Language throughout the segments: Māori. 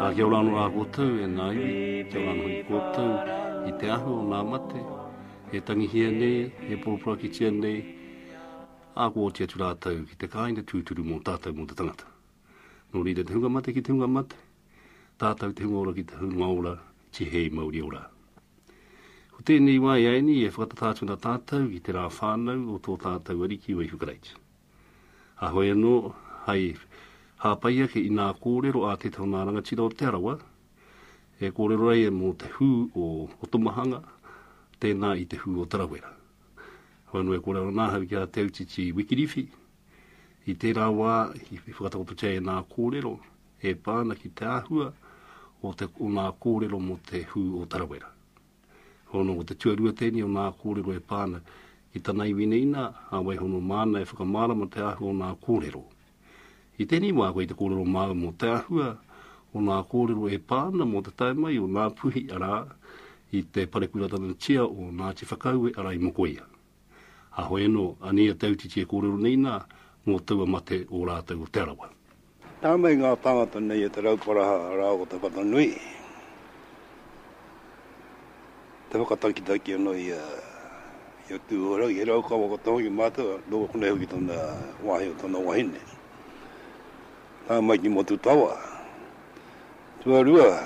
Ā, kia ora anō rā koutou, e ngā iwi, kia ora anō hoki koutou i te ahu o ngā mate, e tangihia nei, e poroporokitia nei, ā, kua oti atu rātou ki te kāinga tūturu mō tātou, mō te tangata. Nō reira, te hunga mate ki te hunga mate, tātou te hunga ora ki te hunga ora, tihei mauri ora. Ko tēnei wā e Aini e whakatata atu ana tātou ki te rā whānau o tō tātou Ariki o Ihu Karaiti. Kāhore anō hai hāpai ake i ngā kōrero a tētahi o ngā rangatira o Te Arawa e kōrero ai e mō te hū o Otomahanga, tēnā i te hū o Tarawera. Whānau e kōrero ana ahau ki a Te Autiti Wikiriwhi, i tērā wā i whakatakototia e ngā kōrero e pā ana ki te āhua o ngā kōrero mō te hū o Tarawera. Hono, ko te tuarua tēnei o nā kōrero e pā ana ki tana iwi nei nā, a Waihono māna e whakamārama te āhua o nā kōrero. I tēnei wā koe i te kōrero māu mō te āhua o nā kōrero e pā ana mō te tae mai o Ngā Puhi arā, i te parepuratanga tia o Ngāti Whakaue arā i Mokoia. Haho eno, anei a Tautiti e korero nei na, ngo taua mate o ratou o Te Arawa. Na mai nga tangata nei a Te Rauparaha ra o Takata-nui, te whakatakitaki ano i a Tuhorangi, he Raukawa katoa hoki matou, no konei hoki tona wahi o tona wahine. Na mai ki Motutawa. Tuarua,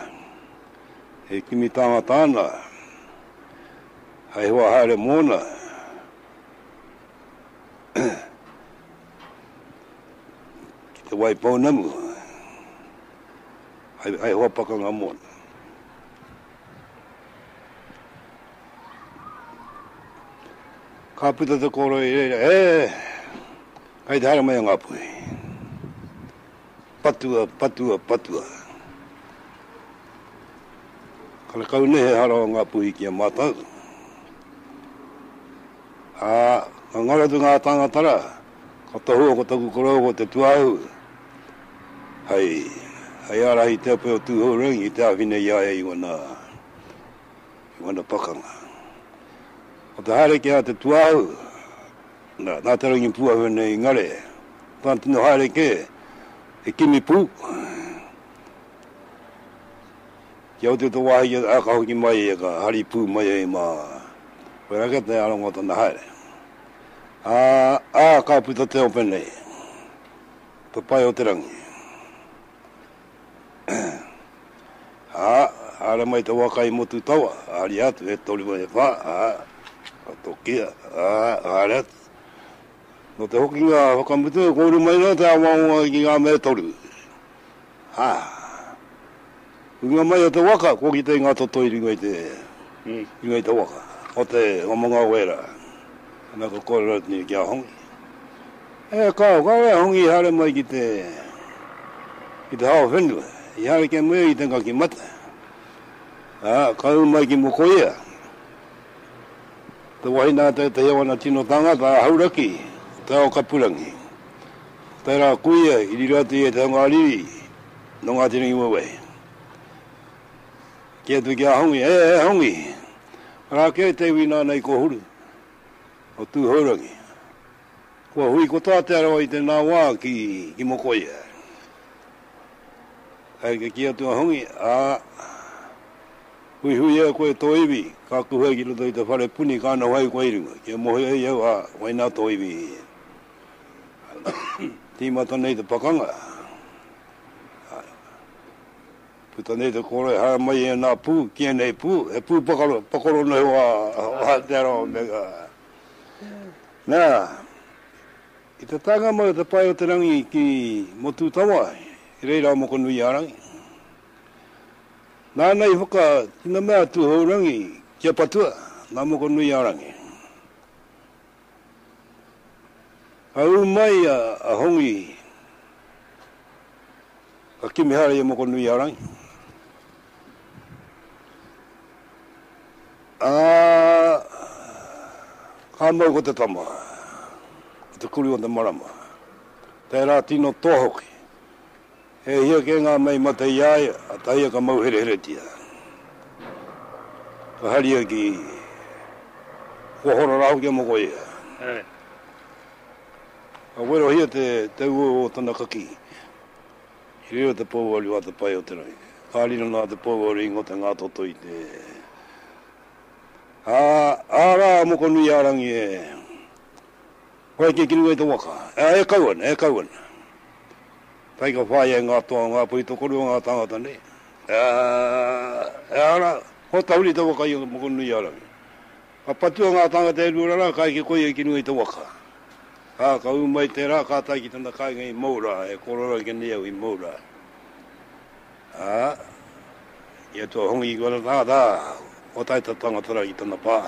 e kimi tāngata ana, hai hoa haere mōna, ki te wai pounamu, hai hoa pakanga mōna. Ka puta te kōrero i reira, e, kai te haere mai a Ngāpuhi. Patua, patua, patua. Karekau nei he hara o Ngapuhi ki a matou. A, ka ngaro atu nga tangata ra, ka tohua ko taku korou ko Te Tuahu, hei, hei arahi i te ope o Tuhourangi ki te awhina i a ia i wana, i wana pakanga. Ko te haere ki a Te Tuahu, Nā te rangi pūahu nei ngare, ka tino haere kē he kimi pū, kia oti tō wāhi ki te aka hoki mai ia, ka hari pū mai hei mā, koe rā kē te aronga o tana haere. Ā, ā, ka puta te ope nei, te pae o te rangi. Ā, haere mai te waka i Motutawa, haria atu he toru me he wha, ā, ka tokia, ā, haere atu. Nō te hokinga whakamutu, e kōrua mai ana te awaonga ki ngā mea e toru. Ā, hunga mai o te waka, kua kitea ngā toto i runga i te, i runga i te waka, o te Ngā Mangao wērā. Ana ka kōrero atu nei ki a Hongi. E kāo, kāore a Hongi i haere mai ki te, ki te hao whenua, i haere kia muia i te ngaki mate, ā, ka ū mai ki Mokoia, te wahine a tētehi o ana tino tāngata, a Hauraki, te ao kapurangi. Tērā a Kuia i riro atu ia i te hunga riri nō Ngāti Rangiwewehi. Kī atu ki a Hongi, E, e Hongi, arā kē te iwi nāna i kōhuru, o Tūhourangi, Kua hui katoa Te Arawa i tēnā wā ki Mokoia. Hai ka kī atu a Hongi, ā, huihuia koe tō iwi, ka kuhu ai ki roto i te whare puni ka noho ai koe i runga, kia mōhio ai au, ā, waina tō iwi. Tīmata nei te pakanga, ā, puta nei te kōroi, haere mai ēnā pū, ki ēnei pū, he pū pakoro noho a Te Arawa me. Nā, i te taenga mai o te pae o te rangi ki Motūtawa, i reira a Mokonuiārangi. Nāna i whakatinana a Tūhourangi ki a patua, nā Mokonuiārangi. Ka ū mai a Hongi, ka kimi haere i a Mokonuiārangi. Ā, ka mau ko te tama, ko te kuri o te marama, tērā tino toa hoki. He hia kē ngā mea i mate i a ia, a Taia ka mau hereheretia. Ka haria ki, kua hora rā hoki a moko ia. Ka werohia te ueu o tana kakī. He reo te pouaru a te pae o te rangi. Ka riro nā te pouaru i ngote ngā toto i te Ā, ā rā, Mokonui-ā-rangi e whai kē ki runga i te waka, ā, e kau ana, e kau ana. Kai ka whāia e ngā toa o ngā poi tokorua ngā tāngata nei, ā, ā rā, kua tahuri te waka i a Mokonui-ā-rangi. Ka patua ngā tāngata e rua rara kai ki koia ki runga i te waka. Ā, ka ū mai tērā, ka tae ki tana kāinga i Moura, e kōrero ake nei au i Moura. Ā, i a Tuahongi ki ōna tāngata, ā, kua tae tā tāngata rā ki tana pā.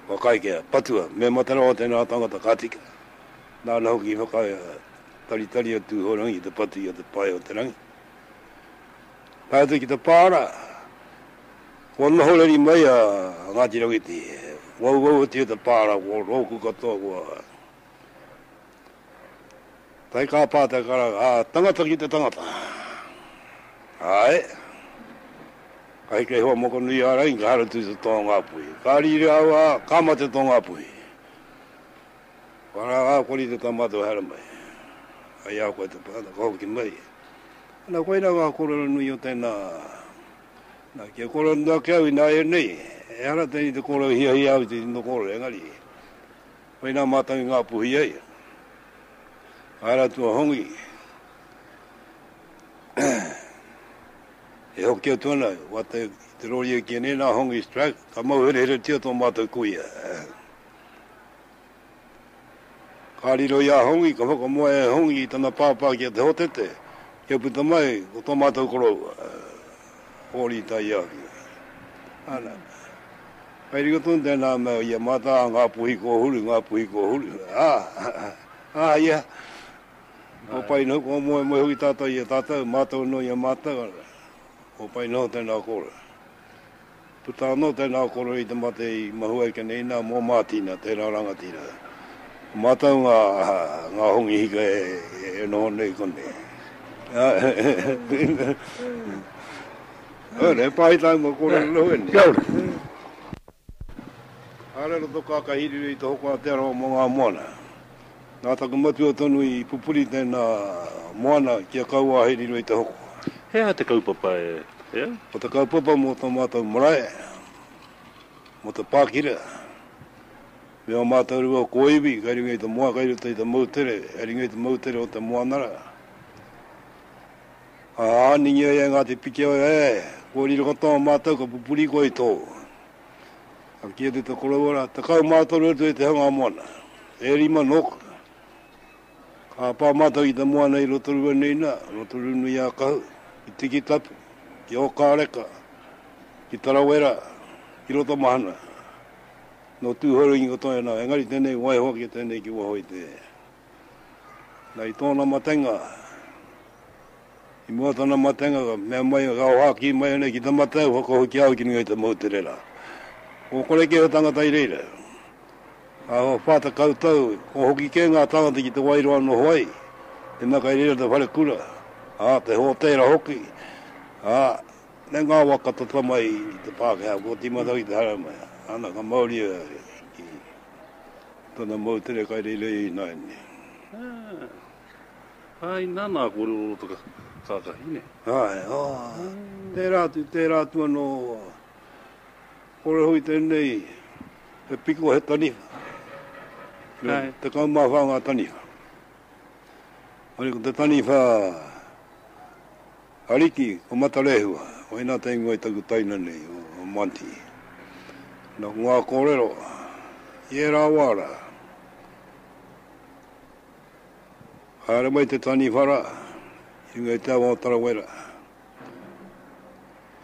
Kua kai kia patua, me mate rawa tēnā tāngata ka tika. Nāna hoki i whakataritari a Tūhourangi ki te patu i a Te Pae-o-te-rangi. Tae atu ki te pā rā. Kua noho reri mai a Ngāti Rauiti, wauwau atu i te pāra, ko rōku katoa kua tae kā pā te karanga, ā, tangata ki te tangata. Āe, ka heke hoa moko nui a Rain, ka haratū te tōngāpuhi. Ka rīria aua, ka mate tōngāpuhi. Kua rā ngā kori te tāmātua haere mai. Ai a koe te tangata, ka hoki mai. Ana, koina ngā kōrero nui o tēnā Na, kia kore atu ake au ināianei, ehara tēnei te kōrero i hiahia au i te tino kōrero, engari, whai nā mātou i Ngāpuhi ai, ka haere atu a Hongi, e hoki atu ana, wata i te rori e kīa nei, nā Hongi's Track, ka mauhereheretia tō mātou kuia. Ka riro i a Hongi, ka whakamoe e Hongi i tana pāpā ki a Te Hotete, kia puta mai ko tō mātou koroua, Hōri Taiāwhia. Ana, kai riro tonu tēnā mea i a mātā, ngā puhi kōhuru, ngā puhi kōhuru. Ā, ā, i a, kua pai noho, kua moemoe hoki tātou i a tātou, mātou noa i a mātou, kua pai noho tēnā kōrero. Puta anō tēnā koro i te mate i Mahuaikene inā mō Mātina, tērā rangatira. Ko mātou ngā, ngā hongi hika e noho nei konei. Ora, he pāhi tāu mō kōrero noho ēnei. Kia ora. Haere aro tō kākāhiriri i te hoko a Te Arawa mō ngā moana. Nā taku matua tonu i pupuri tēnā moana kia kaua hei riro i te hoko. He aha te kaupapa e au? Ko te kaupapa mō tō mātou marae, mō te pākira, me ō mātou rua kōiwi kei runga i te moa, kei roto i te moutere, kei runga i te moutere o te moanara. Ā, nīngi ai a Ngāti Pikiao, ē, kōrero katoa mātou ka pupuri koe i tō. Kia te to koroua ra, takau ma toru atu e te hanga moana. E rima noku. Ka pa matou i te moana i Rotorua nei na, Rotorua nui a Kahu, i Tikitapu, i Okareka, i Tarawera, i Rotomahana. No Tuhoru ingo toi ana, engari tenei waiho ake tenei ki waho i te. Na i tona matenga, I mua tana matenga ka mea mai ka hoaki mai ana ki te mate e whakahokia au ki runga i te moutere ra. Ko koreke he tangata i reira. Ahakoa wha tekau tau ko hoki ke nga tangata ki te wai roa noho ai, te mea kai reira te whare kura, a te hotera hoki, a me nga wa ka tata mai i te Pakeha kua timata au i te haramai. Ana ka mauria ki tana moutere kai reira i ina ene. Ai, nana a kōrero o te kākahi, ne? Ai, ā, tērā atu, tērā atu anō, kore hui tēnei, he piko, he taniwha. Ai. Te kau mā whā ngā taniwha. Ai, ko te taniwha, Ariki, ko Matarehua, waina te ingoa i taku taina nei, o Monty. Nō ngā kōrero, i ērā wā rā, Haere mai te taniwhara i runga i te awa o Tarawera.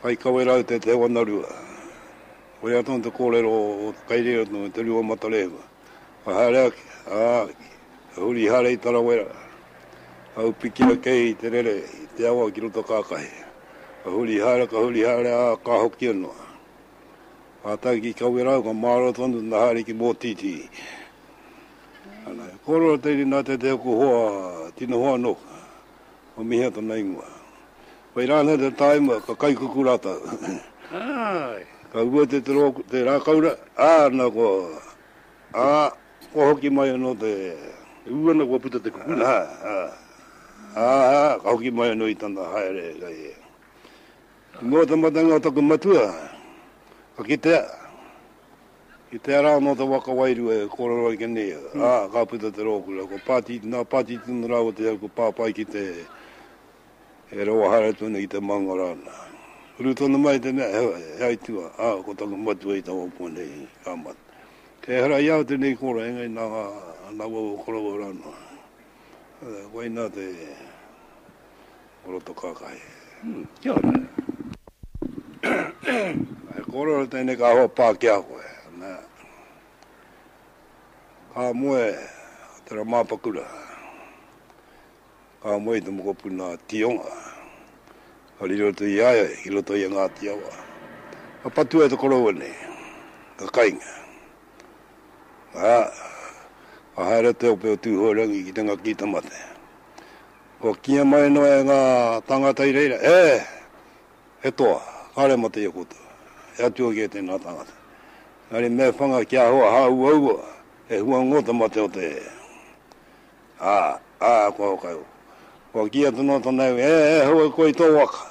Kai kawera au te Te Wanarua. Koia tonu te kōrero o te kai reira tonu, Te Rua Matarehua. Ka haere ake, ā, ka huri haere i Tarawera. Ka upiki ake i te rere i te awa ki roto kākahi. Ka huri haere, ka huri haere, ā, ka hokia noa. Kātahi ki kawera au, ka mārō tonu tana haere ki Mōtītī. Ana, he kōrero te rina te te hoku hoa, tino hoa no, o mihia tona ingoa. Whai rānei te taima, ka kai kuku rātou. Aai! Ka rua te te rākaura, ā, na kua, ā, kua hoki mai anō te. E ū ana kua puta te kuku. Ā, ā, ā, ā, ka hoki mai anō i tana haere, kai e. Nō te matenga o taku matua, ka kitea. I te ara anō te waka wairua e kōrero ai ki a Neil, ā, ka puta te rōkura. Ko Pati, nā Pati tonu rāua te au ka pāpai ki te e rawa haere tonu ki te maunga rāna. Uru tonu mai te mea he, he aituā, ā, ko taku matua i taua pua nei, ka mate. Kei hara i au tēnei kōrero, engari nā ngā, nā waua koroua rānō. Koinā te. o roto kakahi. Kia ora. E korero tēnei kahua pā ki a koe. Ka moe a Te Ramapakura, ka moe i te mokopuna a Tionga, ka riro atu i a ia i roto i a Ngāti Awa. Ka patua e te koroua nei, ka kainga. Ka haere te ope o Tūhoerangi ki te ngaki i te mate. Kua kīia mai noa e ngā tāngata i reira, E! E toa, kāre mō te ia koutou, e atua kē tēnā tāngata. Engari me whanga kia hoa hāuaua, e hua ngō te mate o te. Ā, ā, kua hokaiu. Kua kīia te noa tana iwi, E! E hau ai koe i tō waka.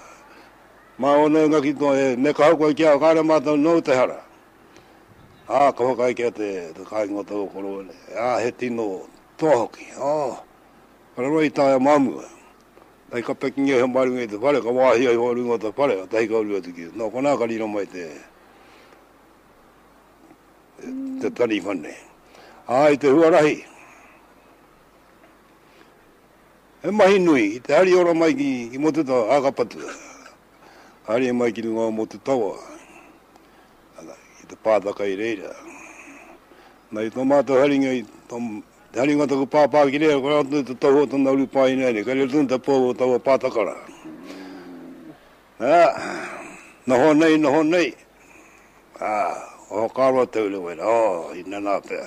Mā ōna e ngaki toa, e, me kaha koe ki a au, kāre mātou nōu te hara. Ā, ka whakaae ki a te, te kāinga o taua koroua nei, Ā, he tino toa hoki, ō! Raro i taea māmua. Hei ka pekingia iho mā runga i te whare, ka wāhia iho runga o te whare, ka tahi ka uru atu ki. Nō konā ka riro mai te, te taniwha nei. Ā, i te huarahi, he mahi nui, i te hari ora mai ki, ki Motutawa, ā, ka patua. Ka haria mai ki runga o Motutawa. Ana, ki te pātaka i reira. Mai tō mātou haringa i tō, te haringa o taku pāpā ki reira, kore atu te tohu o tana uru pāina nei, kei reira tonu te pou o taua pātaka rā. Ā, noho nei, noho nei, ā, oho kāro atu au rewa ina, ō, ina nā pea.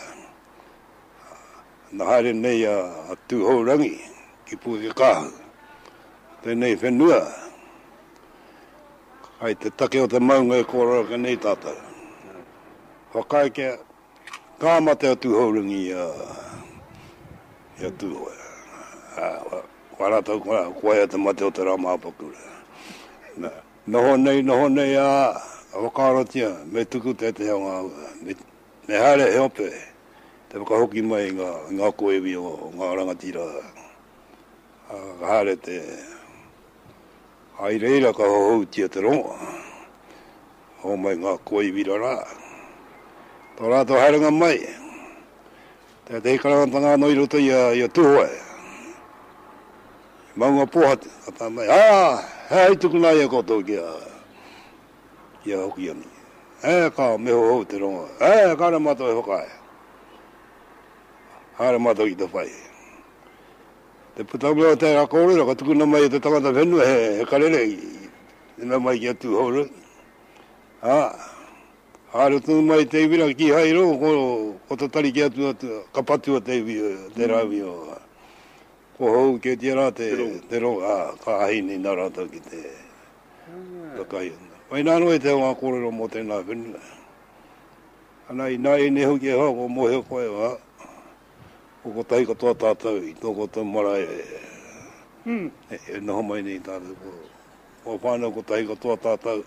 Na haere nei a Tuhourangi ki Pukekāhu, tenei whenua kai te take o te maunga e kōrerake nei tatou. Whakaae kia ka mate a Tuhourangi i a Tuhoe, whakaae ratou ko aia te mate o te ra Mapakura. Noho nei, noho nei, a whakaarotia me tuku teteha o nga Me haere he ope te whakahoki mai i ngā koiwi o ngā rangatira, ā, ka haere te, ā, i reira ka hohoutia te rongo, hōmai ngā koiwi rarā. Tō rātou haerenga mai, tētehi karangatanga anō i roto i a Tūhoe, i Maungapōhatu, ka tae mai, ā, he aha i tukuna ai e koutou ki a. Ia hoki anō. Ē, ka meho hou te rongo. Ē, kāre mātou e whakaae. Kāre mātou ki te whai. Te putanga o tērā kōrero ka tukuna mai e te tangata whenua he, he karere i, i mea mai ki a Tūhourua. Ā, haere tonu mai te iwi rā, kīhai i rongo, ko, ko te tari ki atu, atu, ka patua te iwi, tērā iwi o, ko hou kētia rā te, te rongo, ā, ka ahine nā rātou ki te, Mai nā noa i te ao ngā kōrero mō tēnā whenua. Ana, ināianei hoki e hoa, kua mōhio koe, ā, ko kotahi katoa tātou i tō koutou marae e noho mai nei i tātou kōrero. Kua whānau kotahi katoa tātou,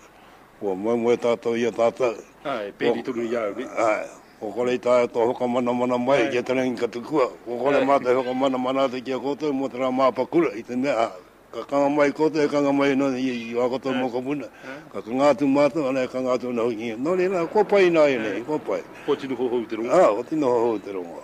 kua moemoe tātou i a tātou. Āe, pēri tonu i a au, nē? Āe, kua kore i taea tō whakamanamana mai ki a Te Rangi Katukua, kua kore mātou e whakamanamana atu ki a koutou mō te rā māpakura i te mea, Ka kanga mai koutou, e kanga mai ana ia i a koutou mokopuna. Ka kanga atu mātou, ana e kanga atu ana hoki ia. Nō reira, nā, kua pai ināianei, kua pai. Kua tino hohou te rongo. Ā, kua tino hohou te rongo.